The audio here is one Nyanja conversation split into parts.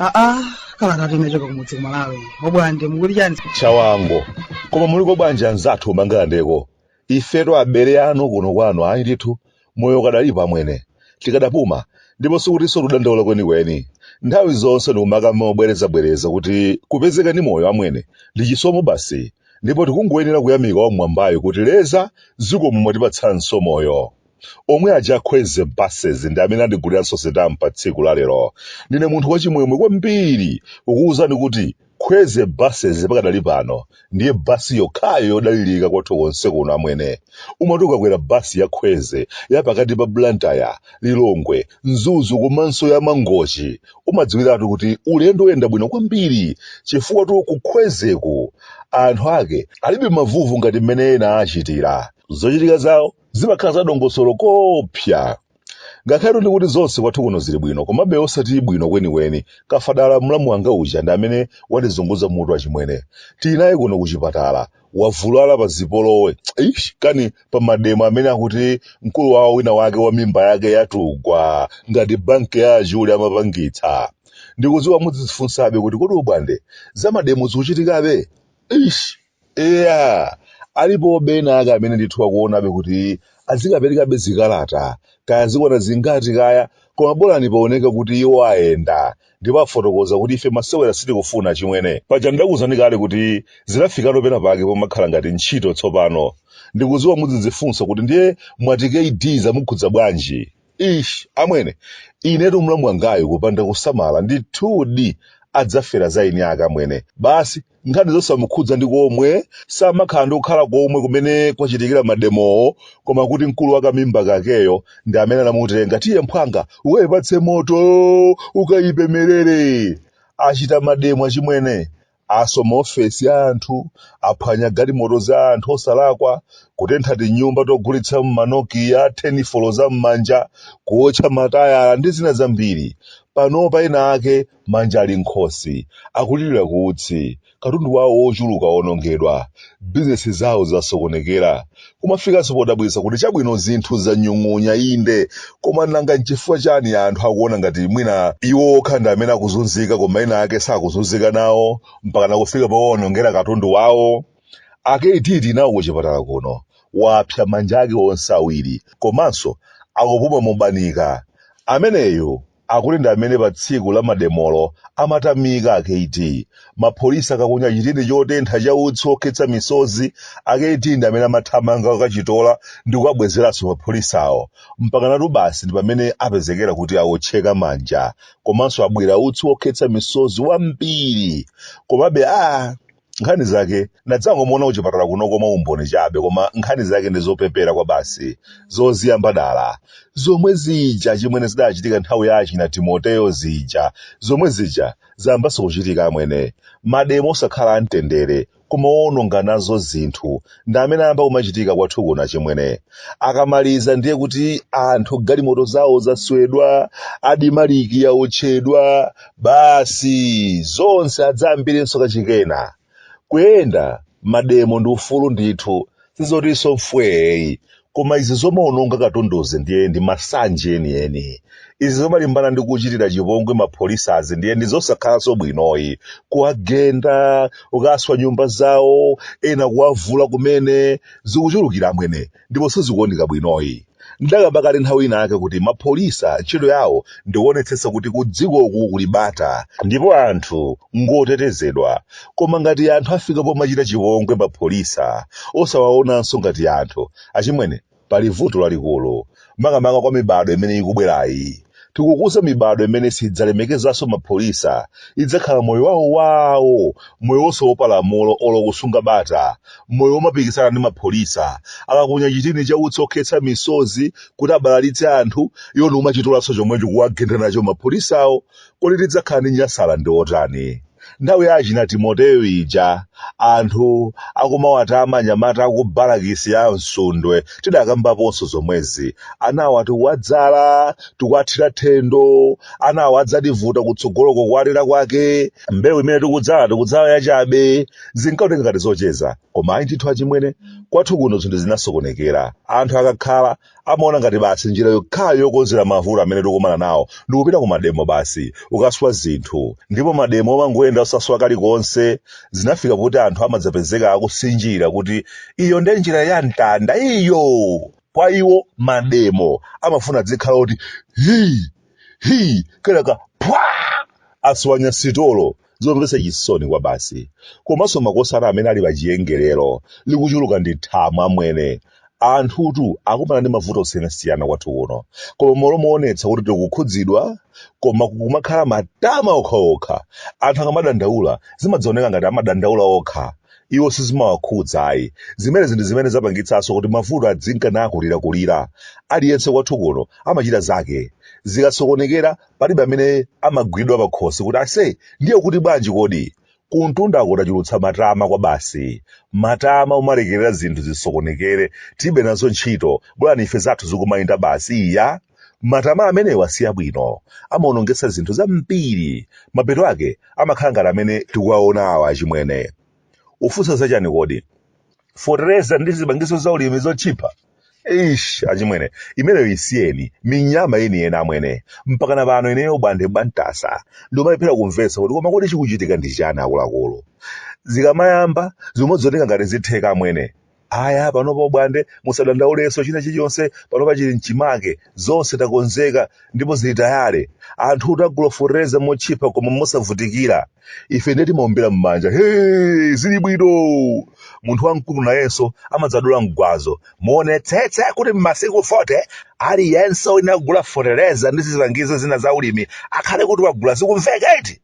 aa kalata inachoka kumudzi kumalawi obwande mukuti chani chawango koma muliko bwanji anzathu kumangalandeko ifetu abale anu kuno kwanu ayi ndithu moyo ukadalipo amwene tikadapuma ndipo sikutinso tudandaula kwenikweni nthawi zonse ndikumakamba mobwerezabwereza kuti kupezeka ndi moyo amwene ndi chisomo basi ndipo tikungoyenera kuyamika wamwambayo kuti leza zikomo mwatipatsanso moyo omwe aja a kwezy buses ndi amene andiguliranso sitampa tsiku la lero ndine munthu wachimwemwe kwambiri kukuwuzani kuti Kwezy buses pakadali pano ndiye bus yokhayo yodalirika kwathu konse kuno amwene. Umati ukakwera bus ya Kwezy ya pakati pa Blantyre, Lilongwe, Mzuzu komanso ya Mangochi umadziwiratu kuti ulendo uyenda bwino kwambiri chifukwatu ku Kwezyku anthu ake alibe mavuvu ngati mmene ena achitira. Zochitika zawo zimakhala za dongosolo koopsa. Ngakhale kuti zonse kwathu kuno zili bwino, komabe osati bwino kwenikweni. Kafadala mlamu wanga uja ndi amene watizunguza mutu achimwene. Tili naye kuno kuchipatala. Wavulala pa zipolowe. Eish, kani pa mademo amene akuti mkulu wawo wina wake wa mimba yake yatugwa ngati banki ya achule amapangitsa. Ndikudziwa mudzidzifunsabe kuti kodi obwande za mademo zikuchitikabe? Eish. Eya, alipobe ena ake amene ndithu akuonabe kuti azikaperekabe zikalata, kaya azikwana zingati kaya, koma bolani paoneke kuti iwo ayenda, ndipo afotokoza kuti ife masewera sitikufuna achimwene. Paja ndidakuuzani kale kuti zidafikano pena pake pomakhala ngati ntchito tsopano. Ndikudziwa mudzidzifunsa kuti ndiye mwati KD zamukhudza bwanji? Ish, amwene, inetu mlamu wangayu kupanda kusamala ndithudi adzafera za eni ake amwene. Basi, nkhani zosamukhudza ndi komwe samakhala ndi kukhala komwe kumene kwachitikira mademowo koma kuti mkulu wa kamimba kakeyo ndi amene anamutenga tiye mphwanga ukayipatse moto ukayipemerere achita mademo achimwene aswa maofesi a anthu aphwanya galimoto za anthu osalakwa kutentha tinyumba togulitsa ma nokia tenifolo za mmanja kuotcha matayala ndi zina zambiri panopa ena ake manja ali mkhosi akulirira ku utsi katundu wawo wochuluka wonongedwa bizinesi zawo zasokonekera kumafikanso podabwitsa kuti chabwino zinthu zanyung'unya inde koma nanga nchifukwa chani anthu akuona ngati mwina iwo okha ndi amene akuzunzika koma ena ake sakuzunzika nawo mpaka nakufika powonongera katundu wawo a kd tili nawo kuchipatala kuno wapsa manja ake onse awiri komanso akupuma mobanika ameneyu akuti ndi amene pa tsiku la mademolo amatamika akuti mapholisa akaponya chitini chotentha cha utsi okhetsa misozi akuti ndi amene amathamanga kukachitola ndi kukabwezeranso mapholisawo mpakanatu basi ndi pamene apezekera kuti awotcheka manja komanso abwira utsi okhetsa misozi wambiri komabe a nkhani zake ndadzangomuona kuchipatala kuno koma umboni chabe koma nkhani zake ndi zopepera kwabasi zoziyamba dala zomwe zija chimwene zidachitika nthawi ya achina timoteyo zija zomwe zija zayambanso kuchitika amwene mademo osakhala amtendere koma woononga nazo zinthu ndi amene ayamba kumachitika kwathu kuno achimwene akamaliza ndiye kuti anthu galimoto zawo zaswedwa admarc yaotchedwa basi zonse adzayambirenso kachikena kuyenda mademo ndi ufulu ndithu sizotinso mfweyi koma izi zomaononga katunduzi ndiye ndi masanje enieni izi zomalimbana ndi kuchitira chipongwe mapholisazi ndiye ndi zosakhalanso bwinoyi kuwagenda ukaswa nyumba zawo ena kuwavula kumene zikuchulukira amwene ndipo sizikuoneka bwinoyi ndakamba kale nthawi ina yake kuti mapholisa ntchito yawo ndikuonetsetsa kuti kudzikoku kuli bata ndipo anthu ngotetezedwa koma ngati anthu afika pomachita chipongwe mapholisa osawaonanso ngati anthu achimwene pali vuto lalikulu makamaka kwa mibado imene ikubwerayi tikukuza mibado imene sidzalemekezanso mapholisa idzakhala moyo wawo wawo moyo wosaopa lamulo olo kusunga bata moyo womapikisana ndi mapholisa akaponya chitini cha utsi okhetsa misozi kuti abalalitse anthu iwo ndikumachitolanso chomwecho kuwagenda nacho mapholisawo kodi tidzakhala ndi nyasalandi otani nthawi ya achina timoteyo ija anthu akumawatama anyamata aku balakisi ya msundwe tidakambaponso zomwezi anawa tikuwadzala tikuwathira thendo anawa adzativuta kutsogoloko kuwalera kwake mbewu imene tikudzala tikudzala yachabe zinkaoneka ngati zocheza koma ayi ndithu achimwene kwathu kuno zinthu zinasokonekera anthu akakhala amaona ngati basi njira yokhayo yokonzera mavuto amene tikumana nawo ndi kupita ku mademo basi ukaswa zinthu ndipo mademo omangoyenda osaswa kalikonse zinafika kuti anthu amadzapezeka akusinjira kuti iyo nde njira ya mtanda iyo kwa iwo mademo amafuna dzikhala kuti hi hi kenaka phwa aswanya sitolo zomvetsa chisoni kwabasi komanso makosana amene ali pa chiwongolero likuchuluka ndi thamo amwene anthutu akumana ndi mavuto osiyanasiyana kwathu kuno koma mmalo moonetsa kuti tikukhudzidwa koma kukumakhala matama okhaokha anthu akamadandaula zimadzaoneka ngati amadandaula okha iwo sizimawakhudza ayi zimenezi ndi zimene zapangitsanso kuti mavuto adzinka nakulirakulira aliyense kwathu kuno amachita zake zikasokonekera palibe amene amagwidwa pakhosi kuti ase ndiye kuti bwanji kodi kumtundako tachulutsa matama kwabasi matama umalekerera zinthu zisokonekere tilibe nazo ntchito bola ife zathu zikumayenda basi iya matama amenewa si abwino amaonongetsa zinthu zambiri mapeto ake amakhala ngati amene tikuwaona awa achimwene mufunsa zachani kodi fotereza ndi zipangizo za ulimi zotchipa Eish, achimwene, imeneyo isiyeni, minyama yeniyeni amwene, mpakana pano ineyo obwande bwantasa, ndikumalephera kumvetsa kuti koma kodi chikuchitika ndi chani akuluakulu. Zikamayamba, zimaoneka ngati zitheka amwene. Aya, panopa obwande, musadandaulenso china chilichonse, panopa chili mchimake, zonse takonzeka, ndipo zili tayale. Anthu adzagula fotereza motchipa koma mosavutikira. ife ndiye timaombera m'manja he zili bwino munthu wamkulu nayenso amadzadula mgwazo muonetsetse kuti m'masiku 40 aliyense wogula fotereza ndi zipangizo zina za ulimi akhale kuti wagula zikumveka eti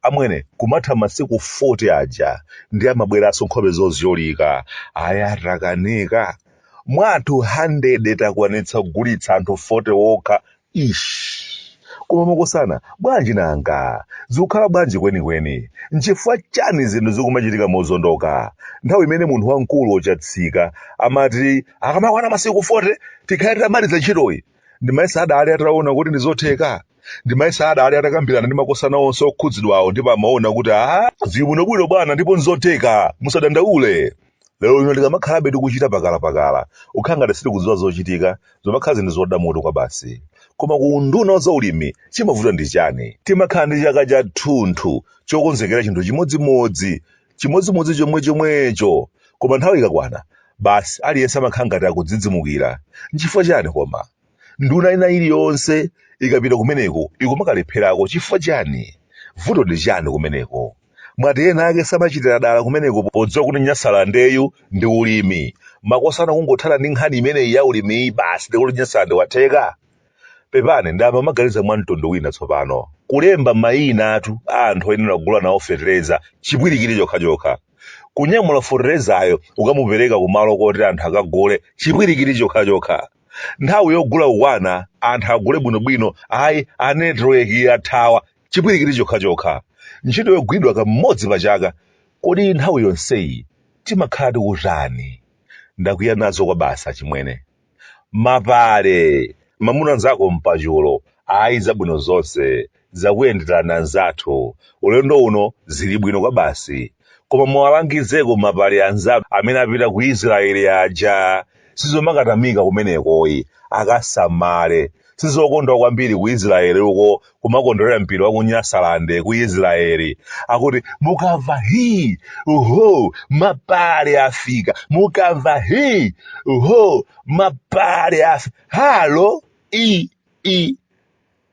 amwene kumatha masiku 40 aja ndiye amabweranso nkhope zozyolika aya takanika mwa anthu 100 takwanitsa kugulitsa anthu 40 okha Ish! Koma makosana, bwanji nanga? Zikukhala bwanji kwenikweni? N'chifukwa chani zinthu zikumachitika mozondoka? Nthawi imene munthu wamkulu wochatsika amati akamakwana masiku 40 tikhale titamaliza ntchitoyi, ndimayesa adali ataona kuti ndi zotheka? Ndimayesa adali atakambirana ndi makosana onse okhudzidwawo ndipo amaona kuti aah zili bwinobwino bwana ndipo n'zotheka, musadandaule. lero lino tikamakhalabe tikuchita pakalapakala kukhala ngati sitikudziwa zochita zimakhala zinthu zodya mutu kwabasi koma ku unduna wa zaulimi chimavuta ndi chani timakhala ndi chaka chathunthu chokonzekera chinthu chimodzimodzi chimodzimodzi chomwe chomwecho koma nthawi ikakwana basi aliyense amakhala ngati akudzidzimukira nchifukwa chani koma nduna ina iliyonse ikapita kumeneko ikumakalepherako chifukwa chani vuto ndi chani kumeneko mwati ena ake samachitira dala kumeneko podziwa kuti nyasalandeyu ndi ulimi makosana kungothana ndi nkhani imeneyi ya ulimiyi basi ndiye kuti nyasalande watheka pepani ndayamba kumaganiza mwa mtundu wina tsopano kulemba mayina athu a anthu oyenera kugula nawo fetereza chipwirikiti chokhachokha kunyamula feterezayo kukamupereka kumalo koti anthu akagule chipwirikiti chokhachokha nthawi yogula kukwana anthu agule bwinobwino ayi network yathawa chipwirikiti chokhachokha ntchito yogwidwa kamodzi pa chaka kodi nthawi yonseyi timakhala tikutani ndakwiya nazo kwabasi achimwene mapale mamuna nzako mpachulo ayi zabwino zonse zakuyenderani anzathu ulendo uno zilibwino kwabasi koma muwalangizeko mapale anzathu amene apita ku Israel aja sizomakatamika kumenekoyi akasamale sizokondwa kwambiri ku Israel uko kumakondwerera mpira wa ku Nyasaland ku Israel akuti mukamva hi uho mapale afika mukamva hi uho mapale afika halo i i